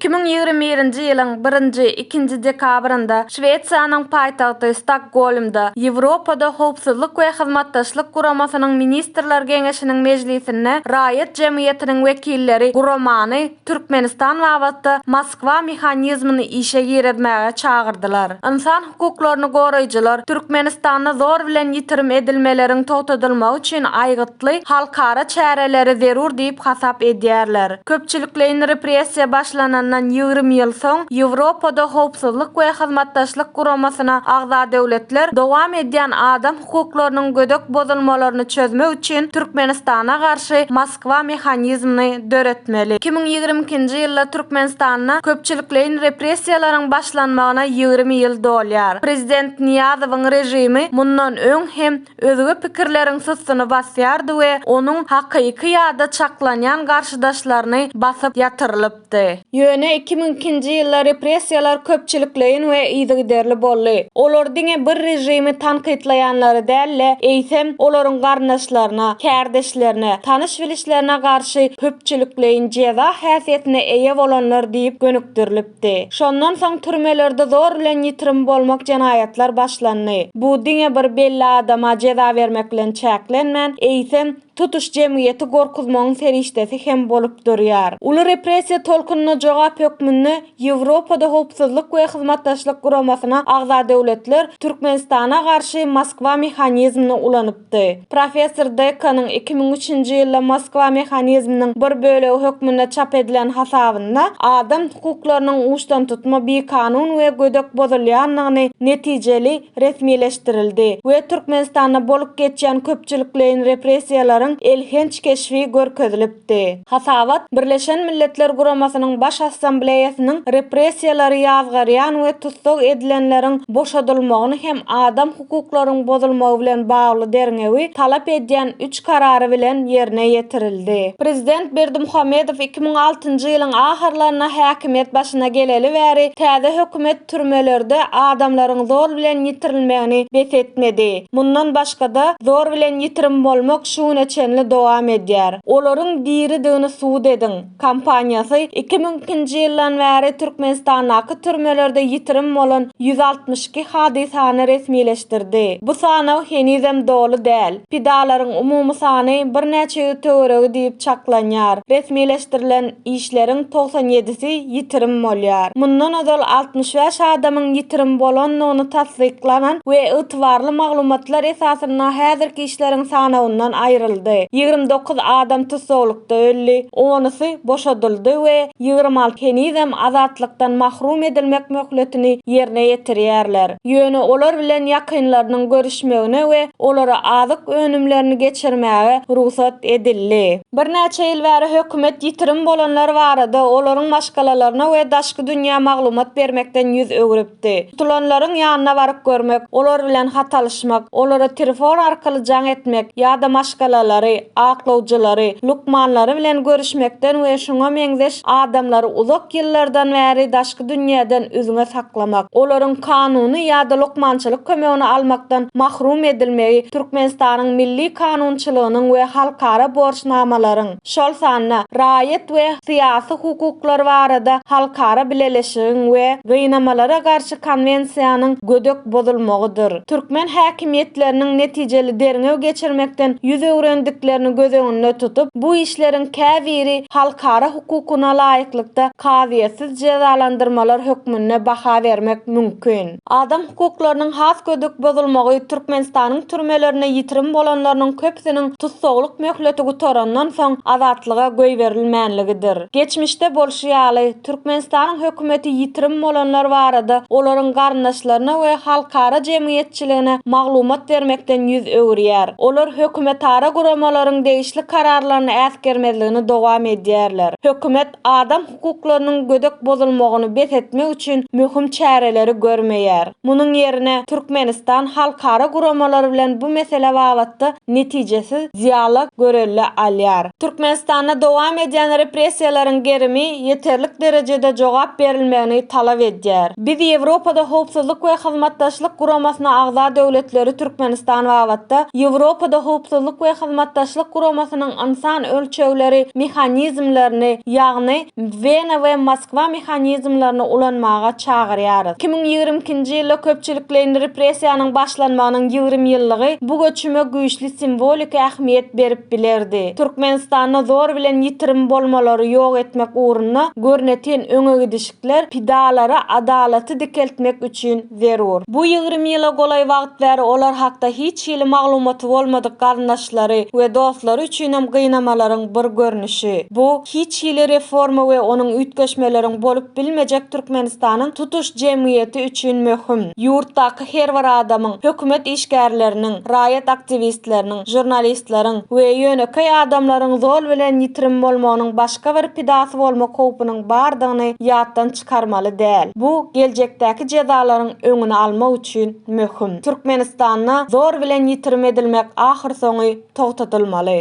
Iki müň ýigrimi birinji ýylyň birinji, ikinji dekabrynda Şwesiýanyň paýtagty Stokgolmda Ýewropada Howpsuzlyk we Hyzmatdaşlyk Guramasynyň Ministrler Geňeşiniň mejlisinde raýat jemgyýetiniň wekilleri guramany Türkmenistan babatda Moskwa mehanizmini işe girizmäge çagyrdylar. Ynsan hukuklaryny goraýjylar Türkmenistanda zor bilen ýitirim edilmeleriň togtadylmagy üçin aýgytly halkara çäreleri zerur diýip hasap edýärler. Köpçülikleýin repressiýa başlanandan ýigrimi ýyl soň Ýewropada Howpsuzlyk we Hyzmatdaşlyk Guramasyna agza döwletler dowam edýän adam hukuklarynyň gödek bozulmalaryny çözmek üçin Türkmenistana garşy Moskwa mehanizmini döretmeli. Iki müň ýigrimi ikinji ýylda Türkmenistanda köpçülikleýin repressiýalaryň başlanmagyna ýigrimi ýyl dolýar. Prezident Nyýazowyň režimi mundan öň hem özge pikirleriň sustuny basýardy we onuň hakyky ýa-da çaklanýan garşydaşlaryny basyp ýatyrylyp, ýaýradypdy. Ýöne iki müň ikinji ýylda repressiýalar köpçülikleýin we yzygiderli boldy. Olar diňe bir režimi tankytlaýanlara däl-de, eýsem, olaryň garyndaşlaryna, kärdeşlerine, tanyş-bilişlerine garşy köpçülikleýin jeza häsiýetine eýe bolanlar diýip gönükdirilipdi. Şondan soň türmelerde zor bilen ýitirim bolmak jenaýatlar başlandy. Bu diňe bir belli adama jeza bermek bilen çäklenmän, eýsem, tutuş jemgyýeti gorkuzmagyň serişdesi hem bolup durýar. Uly repressiýa tolkunyna jogap hökmünde Ýewropada Howpsuzlyk we Hyzmatdaşlyk Guramasyna agza döwletler Türkmenistana garşy Moskwa mehanizmini ulanypdy. Professor Dekkanyň iki müň üçünji ýylda Moskwa mehanizminiň bir bölegi hökmünde çap edilen hasabynda adam hukuklarynyň uçdantutma bikanun we gödek bozulýandygyny netijeli resmileşdirildi we Türkmenistanda bolup geçýän köpçülikleýin repressiýalaryň elhenç keşbi görkezilipdi. Hasabat Birleşen Milletler Guramasynyň Baş Assambleýasynyň repressiýalary ýazgarýan we tussag edilenleriň boşadylmagyny hem adam hukuklaryň bozulmagy bilen bagly derňewi talap edýän üç karary bilen ýerine ýetirildi. Prezident Berdimuhamedow iki müň altynjy ýylyň ahyrlarynda häkimiýet başyna geleli bäri täze hökümet, türmelerde adamlaryň zor bilen ýitirilmegini bes etmedi. Mundan başga-da, zor bilen ýitirim bolmak şu güne çenli dowam edýär. Olaryň diridigini subut ediň! kampaniýasy iki müň ikinji ýyldan bäri Türkmenistandaky türmelerde ýitirim bolan ýüz altmyş iki hadysany resmileşdirdi. Bu sanaw henizem doly däl. Pidalaryň umumy sany birnäçe ýüz töweregi diýip çaklanýar. Resmileşdirilen işleriň togsan ýedisi ýitirim bolýar. Mundan ozal altmyş bäş adamyň ýitirim bolandygyny tassyklanan we ygtybarly maglumatlar esasynda häzirki işleriň sanawyndan aýryldy. Ýigrimi dokuz adam tussaglykda öldi, onusy boşadyldy we ýigrimi alty henizem azatlykdan mahrum edilmek möhletini ýerine ýetirýärler. Ýöne olar bilen ýakynlarynyň görüşmegine we olara azyk önümlerini geçirmäge rugsat edildi. Birnäçe ýyl bäri hökümet ýitirim bolanlar barada, olaryň maşgalalaryna we daşky dünýä maglumat bermekden ýüz öwrüpdi. Tutulanlaryň ýanyna baryp görmek, olar bilen hat alyşmak, olara telefon arkaly jaň etmek ýa-da maşgalalary, aklawjylary, lukmanlary bilen görüşmekden we şuňa meňzeş adamlary uzak ýyllardan bäri daşky daşky dünýäden üzňe saklamak, olaryň kanuny ýa-da lukmançylyk kömegini almakdan mahrum edilmegi Türkmenistanyň milli kanunçylygynyň we halkara borçnamalaryň, şol sanda Raýat we syýasy hukuklar barada halkara bileleşigiň we Gynamalara garşy konwensiýanyň gödek bozulmagydyr. Türkmen häkimiýetleriniň netijeli derňew geçirmekden ýüz öwrendiklerini göz öňünde tutup, bu işleriň käbiri halkara hukugyna laýyklykda kazyýetsiz jezalandyrmalar hökmünde baha bermek mümkin. Adam hukuklarynyň has gödek bozulmagy Türkmenistanyň türmelerinde ýitirim bolanlarynyň köpüsiniň tussaglyk möhleti gutarandan soň azatlyga goýberilmänligidir. Geçmişde bolşy ýaly, Türkmenistanyň hökümeti ýitirim bolanlar barada olaryň garyndaşlaryna we halkara jemgyýetçiligine çiligine maglumat bermekden ýüz öwürýär. Olar hökümetara guramalaryň degişli kararlaryny äsgermezligini dowam edýärler. Hökümet adam hukuklarynyň gödek bozulmagyny bes etmek üçin möhüm çäreleri görmeýär. Munuň ýerine Türkmenistan halkara guramalary bilen bu mesele babatda netijesiz dialog görelde alýar. Türkmenistanda dowam edýän repressiýalaryň gerimi ýeterlik derejede jogap berilmegini talap edýär. Biz Ýewropada Howpsuzlyk we Hyzmatdaşlyk Guramasyna agza döwletleri Türkmenistan babatda Ýewropada Howpsuzlyk we Hyzmatdaşlyk Guramasynyň ynsan ölçegleri mehanizmlerini, ýagny, Wena we Moskwa mehanizmlerini ulanmaga çagyrýarys. Iki müň ýigrimi ikinji ýylda köpçülikleýin repressiýanyň başlanmagynyň ýigrimi ýyllygy bu göçüme güýçli simwoliki ähmiýet berip bilerdi. Türkmenistanda zor bilen ýitirim bolmalary ýok etmek ugrunda görnetin öňegidişikler pidalara adalaty dikeltmek üçin, zerur. Bu ýigrimi ýyla golaý wagt bäri olar hakda hiç hili maglumaty bolmadyk garyndaşlary we dostlary üçinem gynamalaryň bir görnüşi. Bu, hiç hili reforma we onuň üýtgeşmeleriň bolup bilmejek Türkmenistanyň tutuş jemgyýeti üçin möhüm. Ýurtdaky her bir adamyň, hökümet işgärleriniň, raýat aktiwistleriniň, žurnalistleriň we ýönekeý adamlaryň zol bilen ýitirim bolmagynyň başga bir pidasy bolmak howpunyň bardygyny ýatdan çykarmaly däl. Bu geljekdäki jezalaryň öňüni almak üçin möhüm. Türkmenistanda zor bilen ýitirim edilmek ahyrsoňy togtadylmaly.